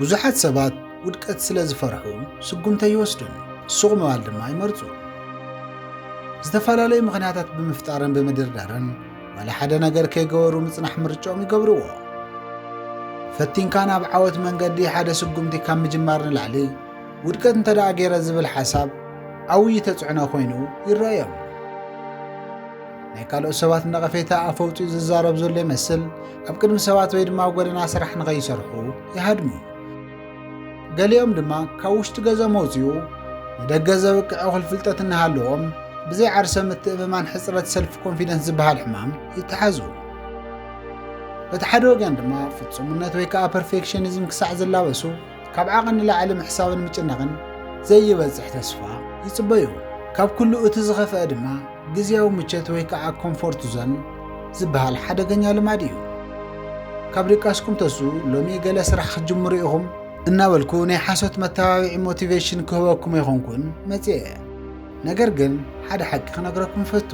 ብዙሓት ሰባት ውድቀት ስለ ዝፈርሑ ስጉምቲ ኣይወስዱን፣ ሱቕ ምባል ድማ ይመርጹ። ዝተፈላለዩ ምኽንያታት ብምፍጣርን ብምድርዳርን ዋላ ሓደ ነገር ከይገበሩ ምጽናሕ ምርጫኦም ይገብርዎ። ፈቲንካ ናብ ዓወት መንገዲ ሓደ ስጉምቲ ካብ ምጅማር ንላዕሊ ውድቀት እንተ ደኣ ገይረ ዝብል ሓሳብ ዓብዪ ተጽዕኖ ኮይኑ ይረኣዮም። ናይ ካልኦት ሰባት ነቐፌታ ኣፍ ኣውፂኡ ዝዛረብ ዘሎ ይመስል ኣብ ቅድሚ ሰባት ወይ ድማ ኣብ ጎደና ስራሕ ንኸይሰርሑ ይሃድሙ ገሊኦም ድማ ካብ ውሽጢ ገዞም ኣውፅኡ ንደገ ዘብቅዕ እኹል ፍልጠት እናሃለዎም ብዘይ ዓርሰ ምትእምማን ሕፅረት ሰልፍ ኮንፊደንስ ዝበሃል ሕማም ይተሓዙ በቲ ሓደ ወገን ድማ ፍፁምነት ወይ ከዓ ፐርፌክሽኒዝም ክሳዕ ዝላበሱ ካብ ዓቐ ንላዕሊ ምሕሳብን ምጭናቕን ዘይበፅሕ ተስፋ ይፅበዩ ካብ ኩሉ እቲ ዝኸፍአ ድማ ግዝያዊ ምቸት ወይ ከኣ ኮምፎርት ዞን ዝበሃል ሓደገኛ ልማድ ኢዩ። ካብ ድቃስኩም ተስኡ ሎሚ ገለ ስራሕ ክትጅምሩ ኢኹም እናበልኩ ናይ ሓሶት መተባብዒ ሞቲቬሽን ክህበኩም ኣይኮንኩን መጺኤ። ነገር ግን ሓደ ሓቂ ክነግረኩም እፈቱ።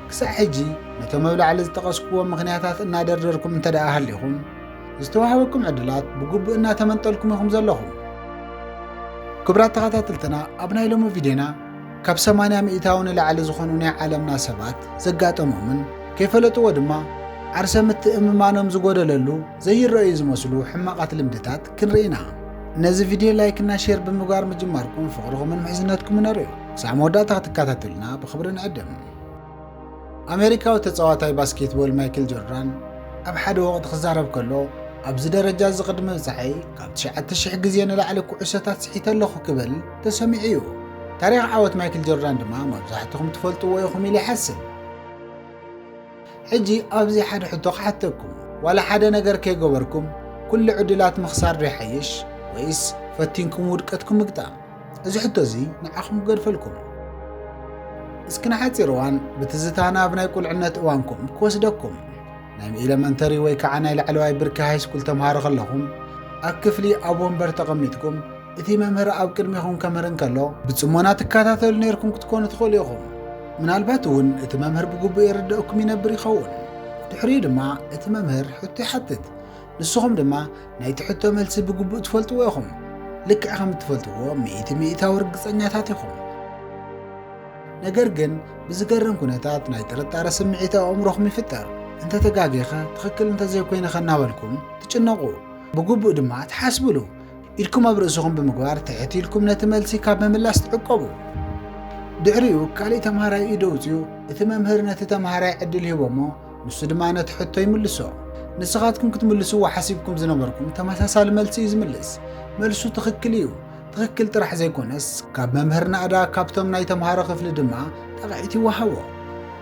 ክሳዕ ሕጂ ነቶም ኣብ ላዕሊ ዝጠቐስኩዎም ምኽንያታት እናደርደርኩም እንተደኣ ሃሊኹም፣ ዝተዋህበኩም ዕድላት ብግቡእ እናተመንጠልኩም ኢኹም ዘለኹም። ክቡራት ተኸታተልትና ኣብ ናይ ሎሚ ቪድዮና ካብ ሰማንያ ሚእታዊ ንላዕሊ ዝኾኑ ናይ ዓለምና ሰባት ዘጋጠሞምን ከይፈለጥዎ ድማ ዓርሰ ምትእምማኖም ዝጎደለሉ ዘይረኣዩ ዝመስሉ ሕማቓት ልምድታት ክንርኢ ኢና። ነዚ ቪድዮ ላይክና ሼር ብምግባር ምጅማርኩም ፍቕርኹምን ምሕዝነትኩምን ኣርእዩ። ክሳዕ መወዳእታ ክትከታተሉና ብኽብሪ ንዕድም። ኣመሪካዊ ተጻዋታይ ባስኬትቦል ማይክል ጆርዳን ኣብ ሓደ ወቕቲ ክዛረብ ከሎ ኣብዚ ደረጃ እዚ ቅድሚ ምብጻሐይ ካብ 9,000 ግዜ ንላዕሊ ኩዕሶታት ስሒተ ኣለኹ ክብል ተሰሚዑ እዩ። ታሪኽ ዓወት ማይክል ጆርዳን ድማ መብዛሕትኹም ትፈልጥዎ ኢኹም ኢለ ይሓስብ። ሕጂ ኣብዚ ሓደ ሕቶ ክሓተኩም፣ ዋላ ሓደ ነገር ከይገበርኩም ኩሉ ዕድላት ምኽሳር ዶ ይሓይሽ ወይስ ፈቲንኩም ውድቀትኩም ምግጣም? እዚ ሕቶ እዚ ንዓኹም ክገድፈልኩም እስኪ ንሓፂር እዋን ብትዝታ ናብ ናይ ቁልዕነት እዋንኩም ክወስደኩም ናይ ኤለመንተሪ ወይ ከዓ ናይ ላዕለዋይ ብርኪ ሃይስኩል ተምሃሮ ከለኹም ኣብ ክፍሊ ኣብ ወንበር ተቐሚጥኩም እቲ መምህር ኣብ ቅድሚኹም ከምህር እንከሎ ብፅሞና ትከታተሉ ነርኩም ክትኮኑ ትኽእሉ ኢኹም ምናልባት እውን እቲ መምህር ብግቡእ የረድእኩም ይነብር ይኸውን ድሕሪኡ ድማ እቲ መምህር ሕቶ ይሓትት ንስኹም ድማ ናይቲ ሕቶ መልሲ ብግቡእ ትፈልጥዎ ኢኹም። ልክዕ ከም እትፈልጥዎ ሚእቲ ሚእታዊ ርግጸኛታት ኢኹም። ነገር ግን ብዝገርም ኩነታት ናይ ጥርጣረ ስምዒት ኣብ ኣእምሮኹም ይፍጠር። እንተ ተጋጌኸ ትኽክል እንተ ዘይኮይነኸ እናበልኩም ትጭነቑ፣ ብግቡእ ድማ ትሓስብሉ። ኢድኩም ኣብ ርእስኹም ብምግባር ትሕት ኢልኩም ነቲ መልሲ ካብ ምምላስ ትዕቀቡ። ድሕሪኡ ካልእ ተምሃራይ ኢዱ ኣውጺኡ እቲ መምህር ነቲ ተምሃራይ ዕድል ሂቦሞ ንሱ ድማ ነቲ ሕቶ ይምልሶ። ንስኻትኩም ክትምልስዎ ሓሲብኩም ዝነበርኩም ተመሳሳሊ መልሲ እዩ ዝምልስ። መልሱ ትኽክል እዩ። ትኽክል ጥራሕ ዘይኮነስ ካብ መምህር ናእዳ ካብቶም ናይ ተምሃሮ ክፍሊ ድማ ጠቕዒት ይወሃቦ።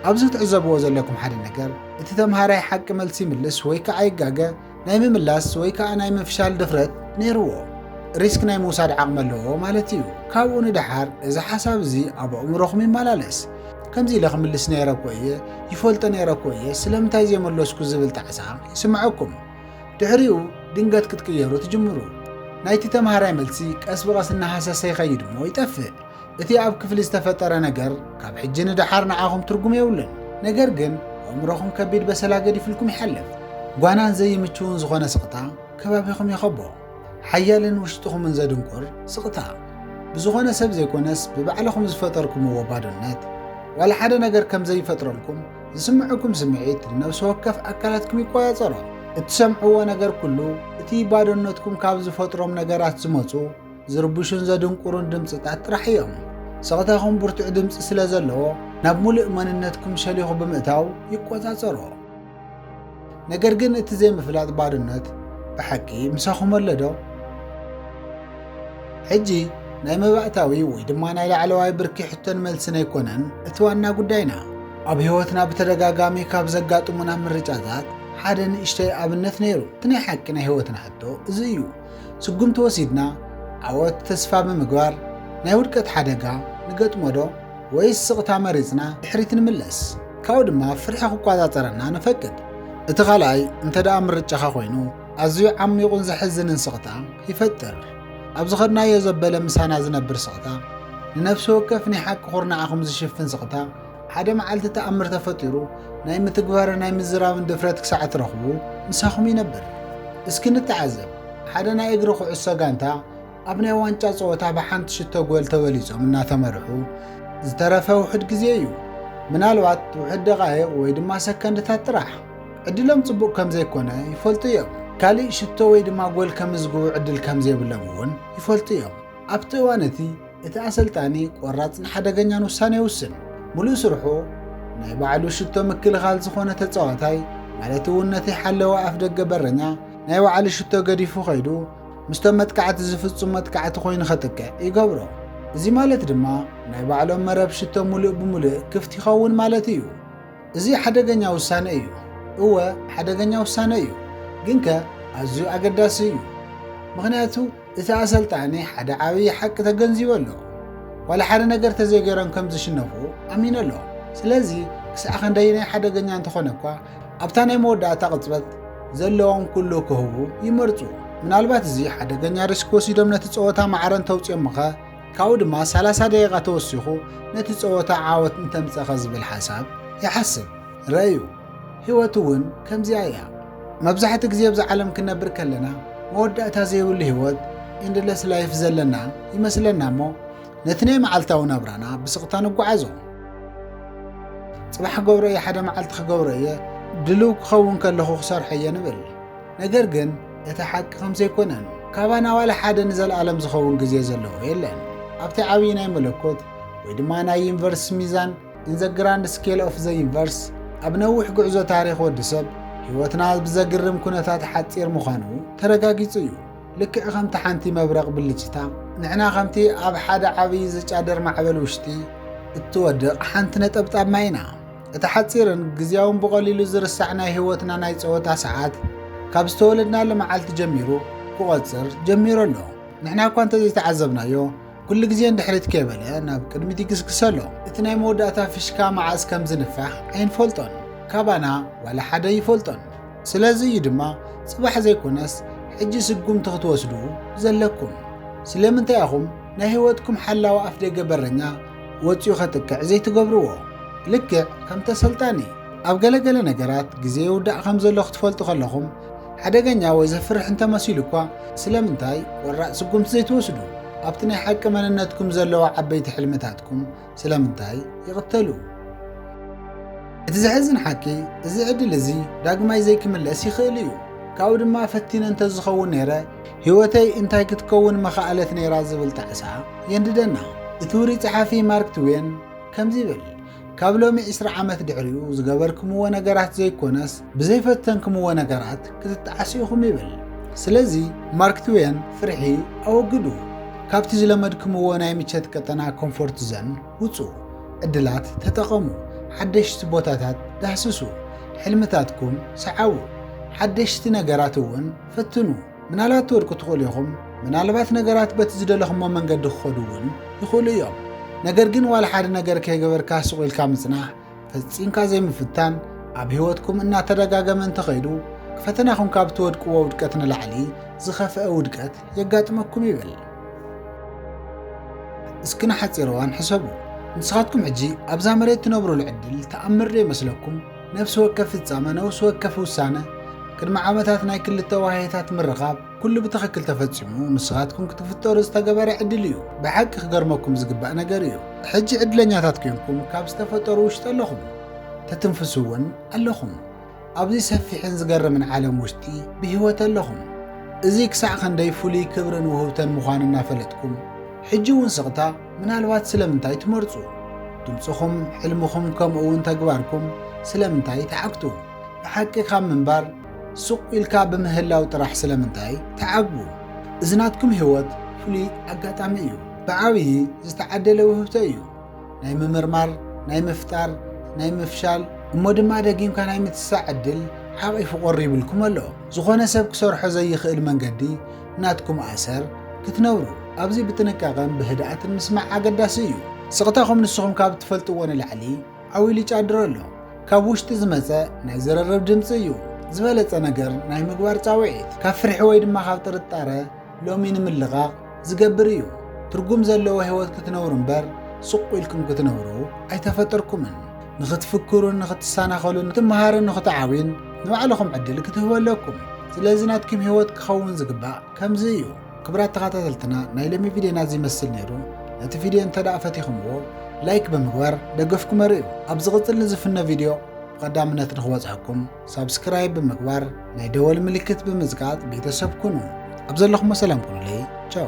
ኣብዚ ክትዕዘብዎ ዘለኩም ሓደ ነገር እቲ ተምሃራይ ሓቂ መልሲ ይምልስ ወይ ከዓ ይጋገ ናይ ምምላስ ወይ ከኣ ናይ ምፍሻል ድፍረት ነይርዎ፣ ሪስክ ናይ ምውሳድ ዓቕሚ ኣለዎ ማለት እዩ። ካብኡ ንደሓር እዚ ሓሳብ እዚ ኣብ ኣእምሮኹም ይመላለስ፣ ከምዚ ኢለ ክምልስ ነይረ እኮ እየ፣ ይፈልጦ ነይረ እኮ እየ፣ ስለምንታይ ዘይመለስኩ ዝብል ጣዕሳ ይስምዐኩም። ድሕሪኡ ድንገት ክትቅየሩ ትጅምሩ። ናይቲ ተማሃራይ መልሲ ቀስ ብቐስ እናሃሰሰ ይኸይድ እሞ ይጠፍእ። እቲ ኣብ ክፍሊ ዝተፈጠረ ነገር ካብ ሕጂ ንደሓር ንዓኹም ትርጉም የብሉን። ነገር ግን ኣእምሮኹም ከቢድ በሰላ ገዲፍልኩም ይሓልፍ። ጓናን ዘይምችውን ዝኾነ ስቕታ ከባቢኹም ይኸቦ። ሓያልን ውሽጥኹምን ዘድንቁር ስቕታ። ብዝኾነ ሰብ ዘይኮነስ ብባዕልኹም ዝፈጠርኩምዎ ባዶነት። ዋላ ሓደ ነገር ከም ዘይፈጥረልኩም ዝስምዕኩም ስምዒት ንነብሲ ወከፍ ኣካላትኩም ይቆጻጸሮ። እትሰምዕዎ ነገር ኩሉ እቲ ባዶነትኩም ካብ ዝፈጥሮም ነገራት ዝመጹ ዝርብሹን ዘድንቁሩን ድምጽታት ጥራሕ እዮም። ስቕታኹም ብርቱዕ ድምጺ ስለ ዘለዎ ናብ ሙሉእ መንነትኩም ሸሊኹ ብምእታው ይቆጻጸሮ። ነገር ግን እቲ ዘይምፍላጥ ባርነት ብሓቂ ምሳኹም ኣለዶ? ሕጂ ናይ መባእታዊ ወይ ድማ ናይ ላዕለዋይ ብርኪ ሕቶን መልስን ኣይኮነን እቲ ዋና ጉዳይና። ኣብ ህይወትና ብተደጋጋሚ ካብ ዘጋጥሙና ምርጫታት ሓደ ንእሽተይ ኣብነት ነይሩ። እቲ ናይ ሓቂ ናይ ህይወትና ሕቶ እዚ እዩ። ስጉምቲ ወሲድና ዓወት ተስፋ ብምግባር ናይ ውድቀት ሓደጋ ንገጥሞዶ ወይስ ስቕታ መሪጽና ድሕሪት ንምለስ? ካብኡ ድማ ፍርሒ ክቆጻጸረና ንፈቅድ። እቲ ካልኣይ እንተደኣ ምርጫኻ ኮይኑ ኣዝዩ ዓሚቑን ዘሕዝንን ስቕታ ይፈጥር። ኣብ ዝኸድናዮ ዘበለ ምሳና ዝነብር ስቕታ፣ ንነፍሲ ወከፍ ናይ ሓቂ ኩርናዓኹም ዝሽፍን ስቕታ፣ ሓደ መዓልቲ ተኣምር ተፈጢሩ ናይ ምትግባርን ናይ ምዝራብን ድፍረት ክሳዕ እትረኽቡ ምሳኹም ይነብር። እስኪ ንተዓዘብ፣ ሓደ ናይ እግሪ ኩዕሶ ጋንታ ኣብ ናይ ዋንጫ ጸወታ ብሓንቲ ሽቶ ጎል ተበሊጾም እናተመርሑ ዝተረፈ ውሑድ ግዜ እዩ። ምናልባት ውሑድ ደቓይቕ ወይ ድማ ሰከንድታት ጥራሕ። ዕድሎም ጽቡቕ ከም ዘይኮነ ይፈልጡ እዮም። ካልእ ሽቶ ወይ ድማ ጎል ከምዝግቡ ዕድል ከም ዘይብሎም እውን ይፈልጡ እዮም። ኣብቲ እዋን እቲ እቲ ኣሰልጣኒ ቆራጽን ሓደገኛን ውሳነ ይውስን። ምሉእ ስርሑ ናይ ባዕሉ ሽቶ ምክልኻል ዝኾነ ተጻዋታይ ማለት እውን ነቲ ሓለዋ ኣፍደገ በረኛ ናይ ባዕሉ ሽቶ ገዲፉ ከይዱ ምስቶም መጥቃዕቲ ዝፍጹም መጥቃዕቲ ኮይኑ ከጥቅዕ ይገብሮ። እዚ ማለት ድማ ናይ ባዕሎም መረብ ሽቶ ምሉእ ብምሉእ ክፍት ይኸውን ማለት እዩ። እዚ ሓደገኛ ውሳነ እዩ። እወ ሓደገኛ ውሳነ እዩ፣ ግንከ ኣዝዩ ኣገዳሲ እዩ። ምኽንያቱ እቲ ኣሰልጣኒ ሓደ ዓብዪ ሓቂ ተገንዚቡ ኣሎ። ዋላ ሓደ ነገር ተዘይገይሮም ከም ዝሽነፉ ኣሚኑ ኣሎ። ስለዚ ክሳዕ ክንደይናይ ሓደገኛ እንተኾነ እኳ ኣብታ ናይ መወዳእታ ቅጽበት ዘለዎም ኩሉ ክህቡ ይመርጹ። ምናልባት እዚ ሓደገኛ ሪስክ ወሲዶም ነቲ ጸወታ ማዕረ እንተውጽኦምኸ? ካብኡ ድማ ሰላሳ ደቂቓ ተወሲኹ ነቲ ጸወታ ዓወት እንተምጸኸ ዝብል ሓሳብ ይሓስብ። ርእዩ፣ ህይወት እውን ከምዚኣ እያ። መብዛሕትኡ ግዜ ኣብዛ ዓለም ክንነብር ከለና መወዳእታ ዘይብሉ ህይወት፣ ኢንድለስ ላይፍ፣ ዘለና ይመስለና እሞ ነቲ ናይ መዓልታዊ ናብራና ብስቕታ ንጓዓዞ። ጽባሕ ክገብሮ እየ፣ ሓደ መዓልቲ ክገብሮ እየ፣ ድልው ክኸውን ከለኹ ክሰርሖ እየ ንብል። ነገር ግን እቲ ሓቂ ከምዘይኮነን ካባና ዋላ ሓደ ንዘልኣለም ዝኸውን ግዜ ዘለዎ የለን። ኣብቲ ዓብዪ ናይ መለኮት ወይ ድማ ናይ ዩኒቨርስ ሚዛን In the Grand Scale of the Universe ኣብ ነዊሕ ጉዕዞ ታሪኽ ወዲ ሰብ ህይወትና ብዘግርም ኩነታት ሓጺር ምዃኑ ተረጋጊጹ እዩ። ልክዕ ከምቲ ሓንቲ መብረቕ ብልጭታ ንሕና ከምቲ ኣብ ሓደ ዓብዪ ዝጫደር ማዕበል ውሽጢ እትወድቕ ሓንቲ ነጠብጣብ ማይ ኢና። እቲ ሓጺርን ግዝያውን ብቐሊሉ ዝርሳዕ ናይ ህይወትና ናይ ጸወታ ሰዓት ካብ ዝተወለድናሉ መዓልቲ ጀሚሩ ክቖጽር ጀሚሩ ኣሎ። ንሕና እኳ እንተዘይተዓዘብናዮ ኩሉ ግዜ ንድሕሪት ከይበለ ናብ ቅድሚት ይግስግሰ ኣሎ እቲ ናይ መወዳእታ ፍሽካ መዓዝ ከም ዝንፋሕ ኣይንፈልጦን ካባና ዋላ ሓደ ይፈልጦን ስለዚ እዩ ድማ ጽባሕ ዘይኮነስ ሕጂ ስጉምቲ ክትወስዱ ዘለኩም ስለምንታይ ኢኹም ናይ ህይወትኩም ሓላዊ ኣፍደገ በረኛ ወጺኡ ከጥቅዕ ዘይትገብርዎ? ልክዕ ከም ተሰልጣኒ፣ ኣብ ገለ ገለ ነገራት ግዜ ይውዳእ ከም ዘሎ ክትፈልጡ ከለኹም፣ ሓደገኛ ወይ ዘፍርሕ እንተ መሲሉ እኳ ስለምንታይ ቆራጽ ስጉምቲ ዘይትወስዱ? ኣብቲ ናይ ሓቂ መንነትኩም ዘለዎ ዓበይቲ ሕልምታትኩም ስለምንታይ ይቕተሉ? እቲ ዘሕዝን ሓቂ እዚ ዕድል እዚ ዳግማይ ዘይክምለስ ይኽእል እዩ። ካብኡ ድማ ፈቲነ እንተ ዝኸውን ነይረ ህይወተይ እንታይ ክትከውን መኻኣለት ነይራ ዝብል ጣዕሳ የንድደና። እቲ ውሩይ ጸሓፊ ማርክ ትዌን ከምዚ ይብል፣ ካብ ሎሚ ዕስራ ዓመት ድሕሪኡ ዝገበርክምዎ ነገራት ዘይኮነስ ብዘይፈተንክምዎ ነገራት ክትጠዓሱ ኢኹም ይብል። ስለዚ ማርክ ትዌን ፍርሒ ኣወግዱ። ካብቲ ዝለመድክምዎ ናይ ምቸት ቀጠና፣ ኮምፎርት ዘን፣ ውጹ። ዕድላት ተጠቐሙ። ሓደሽቲ ቦታታት ዳህስሱ። ሕልምታትኩም ሰዓቡ። ሓደሽቲ ነገራት እውን ፈትኑ፣ ምናልባት ትወድቁ ትኽእሉ ኢኹም፣ ምናልባት ነገራት በቲ ዝደለኹሞ መንገዲ ክኸዱ እውን ይኽእሉ እዮም። ነገር ግን ዋላ ሓደ ነገር ከይገበርካ ሱቕ ኢልካ ምጽናሕ፣ ፈጺምካ ዘይምፍታን፣ ኣብ ህይወትኩም እናተደጋገመ እንተኸይዱ ፈተናኹም ካብ ትወድቅዎ ውድቀት ንላዕሊ ዝኸፍአ ውድቀት የጋጥመኩም ይብል። እስኪ ንሓጺር እዋን ሕሰቡ። ንስኻትኩም ሕጂ ኣብዛ መሬት ትነብሩሉ ዕድል ተኣምር ዶ ይመስለኩም? ነፍሲ ወከፍ ፍጻመ፣ ነውሲ ወከፍ ውሳነ፣ ቅድሚ ዓመታት ናይ ክልተ ዋህዮታት ምርኻብ፣ ኩሉ ብትኽክል ተፈጺሙ፣ ንስኻትኩም ክትፍጠሩ ዝተገበረ ዕድል እዩ። ብሓቂ ክገርመኩም ዝግባእ ነገር እዩ፣ ሕጂ ዕድለኛታት ኴንኩም ካብ ዝተፈጠሩ ውሽጢ ኣለኹም፣ ትትንፍሱ እውን ኣለኹም። ኣብዚ ሰፊሕን ዝገርምን ዓለም ውሽጢ ብህይወት ኣለኹም። እዚ ክሳዕ ክንደይ ፍሉይ ክብርን ውህብተን ምዃኑ እናፈለጥኩም፣ ሕጂ እውን ስቕታ፣ ምናልባት ስለምንታይ ትመርጹ? ድምጽኹም፣ ሕልምኹም ከምኡውን ተግባርኩም ስለምንታይ ትሓግቱ? ብሓቂ ካብ ምንባር ሱቕ ኢልካ ብምህላው ጥራሕ ስለምንታይ ትዓግቡ? እዚ ናትኩም ህይወት ፍሉይ ኣጋጣሚ እዩ። ብዓብዪ ዝተዓደለ ውህብቶ እዩ። ናይ ምምርማር፣ ናይ ምፍጣር፣ ናይ ምፍሻል እሞ ድማ ደጊምካ ናይ ምትሳእ ዕድል ሓቚፉ ቐሪቡልኩም ኣሎ። ዝኾነ ሰብ ክሰርሖ ዘይኽእል መንገዲ ናትኩም ኣሰር ክትነብሩ ኣብዚ ብጥንቃቐን ብህድኣትን ምስማዕ ኣገዳሲ እዩ። ስቕታኹም ንስኹም ካብ እትፈልጥዎ ንላዕሊ ዓው ኢሉ ይጫድር ኣሎ። ካብ ውሽጢ ዝመጸ ናይ ዝርርብ ድምጺ እዩ ዝበለጸ ነገር ናይ ምግባር ጻውዒት። ካብ ፍርሒ ወይ ድማ ካብ ጥርጣረ ሎሚ ንምልቓቕ ዝገብር እዩ። ትርጉም ዘለዎ ህይወት ክትነብሩ እምበር ስቕ ኢልኩም ክትነብሩ ኣይተፈጠርኩምን። ንኽትፍክሩን ንኽትሰናኸሉን ንኽትመሃርን ንኽትዓብዩን ንባዕልኹም ዕድል ክትህቡ ኣለኩም ስለዚ ናትኩም ህይወት ክኸውን ዝግባእ ከምዚ እዩ ክብራት ተኸታተልትና ናይ ሎሚ ቪድዮና እዚ ይመስል ነይሩ ነቲ ቪድዮ እንተ ደኣ ፈቲኹምዎ ላይክ ብምግባር ደገፍኩም ኣርእዩ ኣብ ዝቕፅል ንዝፍኖ ቪድዮ ብቐዳምነት ንኽበፅሐኩም ሳብስክራይብ ብምግባር ናይ ደወል ምልክት ብምዝጋጥ ቤተሰብ ኩኑ ኣብ ዘለኹሞ ሰላም ኩኑለይ ቻው